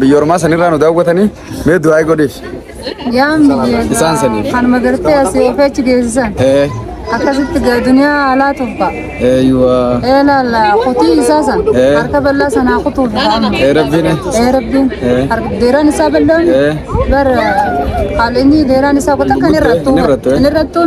biyya ormaa sanirraa nu daawwatanii mee du'aa godhiif. Isaan sanii. Kan magartee asii ofii achi geessisan. Akkasitti gaa duniyaa alaa tuffa. Eeyuwa. Ee laala kutii isaa san. Harka bal'aa sanaa kutuuf. Ee rabbiin. Ee rabbiin. Deeraan isaa bal'aan. Bara haalli inni deeraan isaa kutaa kan irrattuu. Kan irrattuu.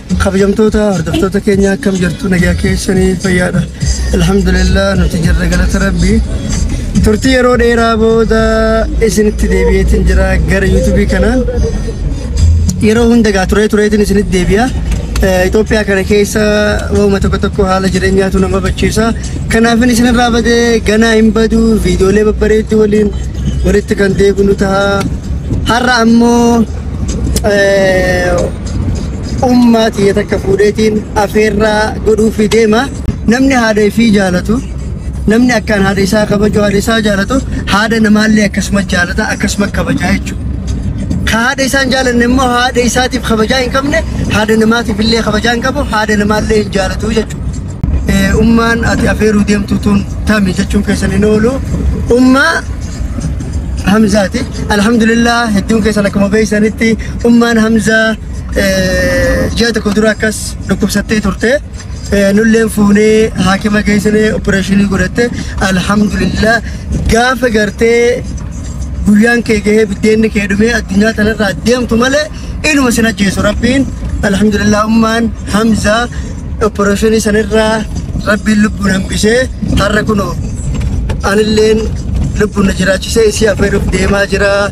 Kabajamtoota hordoftoota keenya akkam jirtu nagaa keessanii fayyaadha. Alhamdulillah nuti jirra galata rabbi. Turtii yeroo dheeraa booda isinitti deebi'eetiin jira gara yuutuubii kana. Yeroo hunda gaa turee tureetiin isinitti deebi'a. Eh, Itoophiyaa kana keessa waanuma tokko tokko haala jireenyaatu nama bachiisa. Kanaafin isinirraa badee ganaa hin badu viidiyoolee babbareedduu waliin walitti kan deebinu ta'a. Har'a ammoo eh, ummaa tiyya takka fuudheetiin afeerraa godhuufii deema. Namni haadha ifii jaalatu, namni akkaan haadha isaa kabaju, haadha isaa jaalatu, haadha namaallee akkasuma jaalata, akkasuma kabajaa jechuudha. Ka haadha isaan jaalanne immoo haadha isaatiif kabajaa hin qabne, haadha namaatiif illee kabajaa hin qabu, haadha namaallee hin jaalatu jechuudha. Eh, Ummaan ati afeeruu deemtu tun tami jechuun keessan hin oolu. Ummaa Hamzaati. Alhamdulillah hedduun keessan akkuma beeksanitti Ummaan Hamzaa ji'a tokko dura akkas dhukkubsattee turte. Nulleen fuunee haakima geessinee opereeshinii godhatte. Alhamdulillah gaafa gartee guyyaan kee gahee biddeenni kee dhumee addunyaa kanarraa deemtu malee inuma sin ajjeesu rabbiin. Alhamdulillah ummaan Hamzaa opereeshinii sanirraa rabbiin lubbuun hambisee har'a kunoo anilleen lubbuun na jiraachisee isii affeeruuf deemaa jira.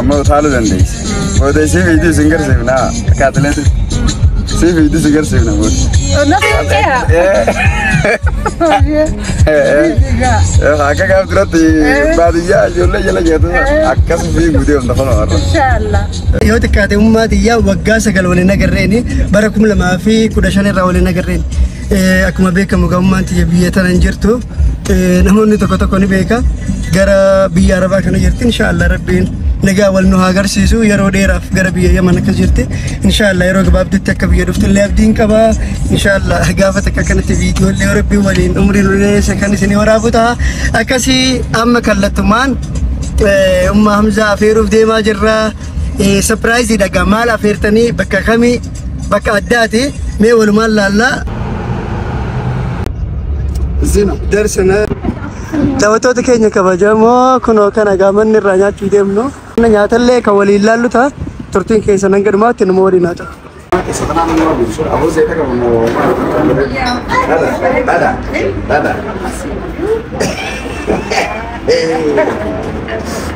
Amma utaaluu dandeessi. Booda ishee fiiduu isin garsiifna. Akka atileetii. Ishee fiiduu isin garsiifna booda. Nafi kaya. Akka gaaf duratti baadiyyaa ijoollee jala jeetu akkas fiiguu deemta kun warra. Inshallah. Yoo xiqqaate ummaa tiyyaa waggaa sagal waliin agarreeni bara kuma lamaa fi kudha shan irraa waliin agarreeni. Akkuma beekamu gamummaan tiyya biyya tana hin jirtu namoonni tokko tokko ni beeka gara biyya arabaa kana jirti inshaallah rabbiin nagaa wal nu haa agarsiisu yeroo dheeraaf gara biyya yaman akka jirti inshaallah yeroo gabaabdutti akka biyya dhuftu illee abdiin qaba inshaallah gaafa takka kanatti viidiyoo illee rabbiin waliin umrii nu dheeressa kan isin waraabu ta'a akkasii amma kallattumaan umma hamzaa afeeruuf deemaa jirra sapiraayiziidha gaa maal afeertanii bakka kamii bakka addaati mee walumaan laallaa zina darsana daawwattoota keenya kabajamoo kunoo kana gaamanni irraa nyaachuu deemnu nyaatallee kan waliin laallu ta'a turtiin keessa nan gadhumaatti nama waliin haa ta'u. Dada, dada, dada.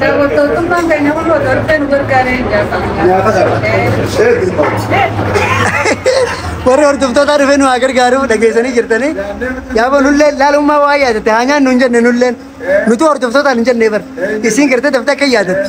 Daawwattoottummaan keenya kun otoo dhufee nu gargaaree hin Warri hordoftootaa dhufee nu haa gargaaru dhageessanii jirtanii. Yaaba nullee laalummaa waa yaadatte haa nyaannu hin jenne nulleen. Nutu hordoftootaan hin jenne bar. Isiin gartee daftee akka yaadatte.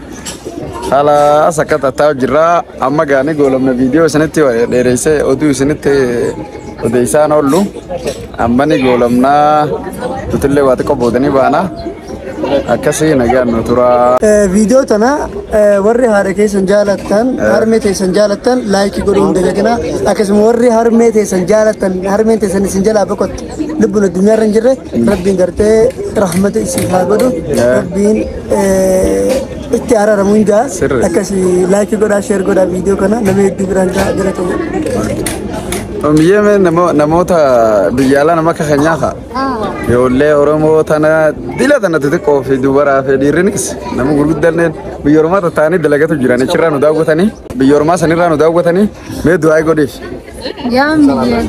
Haala sakka tattaa'u jirra. Amma gaanii goolabna viidiyoo isinitti dheereessee oduu isinitti odeessaan oollu. Amma ni goolabnaa nutillee waa xiqqoo boodanii baana. Akkasii nagaan nu tura. Viidiyoo tana warri haadha keessan jaalattan harmee teessan jaalattan laayikii godhuu hin dagatinaa. Akkasuma warri harmee teessan jaalattan harmeen teessan isin jalaa boqotte. lubbuun addunyaa irra hin jirre rabbiin gartee rahmata isiif haa godhu rabbiin itti araaramu hin jaa akkasi laayikii godhaa sheer godhaa viidiyoo kana nama hedduu biraan jaa galatamu. Omiyyee mee namoota biyya alaa nama akka keenyaa kaa ijoollee Oromoo tana dila tana xixiqqoo fi dubaraa fi dhiirrinis nama gurguddaan biyya Oromaa tattaanii dalagatu jiran achirraa nu daawwatanii biyya Oromaa sanirraa nu daawwatanii mee du'aa godheef. Yaan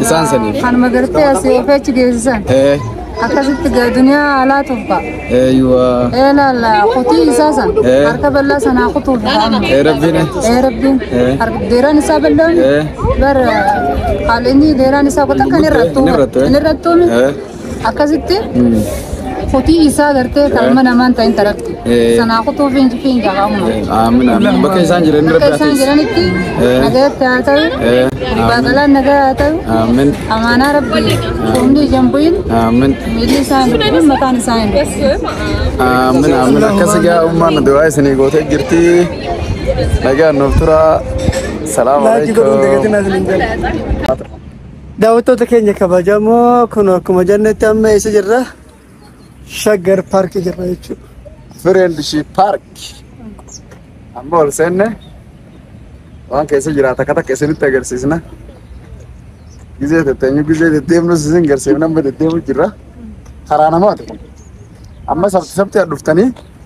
Isaan sanii. biyyeedha. Kanuma gartee asii of achi geessisan. Ee, Akkasitti gaa duniyaa alaa tuffa. eeyuwa. Ee laala kutii isaa san. Ee. Harka bal'aa sanaa kutuuf amma. Ee, rabbiin. Ee rabbiin. Ee. Harka deeraan isaa bal'aan. Ee. Bara haalli inni deeraan isaa kutaa kan irrattuu. Inni irrattuu, ee. Inni irrattuun. Ee. akkasitti kotii isaa gartee kalma namaan ta'in tarakti Eh. sanaa kutuu fiinji fiinja qaamuma Aamin aamin. Bakka isaan jiran irra akka isaan biraafis. jiranitti Eh. nagayatti haa ta'u Eh. baaqalaan nagaa haa ta'u Aamin amaanaa rabbii humni ijaan bu'in aamin miilli isaa hin bu'in mataan isaa hin bu'in aamin aamin. Akkasi gaa ummaan du'aa isinii gootee jirti. Nagaan nuuf turaa. Salaamu Laajii godhuun alaikum. deegatiin as hin jedhu. Daawwattoota keenya kabajamoo kun akkuma jennetti amma eessa jirra? Shaggar paarkii jirra jechuudha. Friendship Park. Amma ol seenne waan keessa jira takka takka isinitti agarsiisna. Gizee tetteenyu gizee deddeemnus isin garsiifna amma deddeemu jirra. Karaa namaati kun. Amma sabti sabti dhuftanii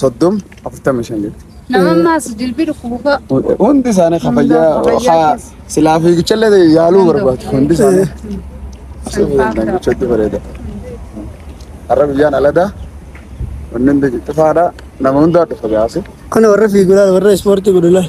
soddom afurtama shan jetti. Nama ammaas jilbi dhukkubu fa'a. Hundi isaanii ka fayyaa ka silaa fiigichallee yaaluu barbaadu hundi isaanii. Asii fiigan gochatti bareeda. Har'a guyyaan aladaa wanni hundi cufaadha nama hundaa dhufa gaasi. Kana warra fiigu laal warra ispoortii godhu laal.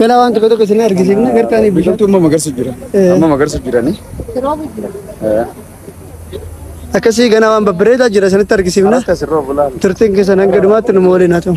Galaa waan tokko tokko isin argisiifna gartaanii bishaan. Biqiltuu amma magarsu jira. Eh. Amma magarsu jirani. Eh. Akkasii ganaa waan babbareedaa jira isinitti argisiifna. Kanas kasirra bulaa. Turtiin keessan hanga dhumaatti nu waliin haa ta'u.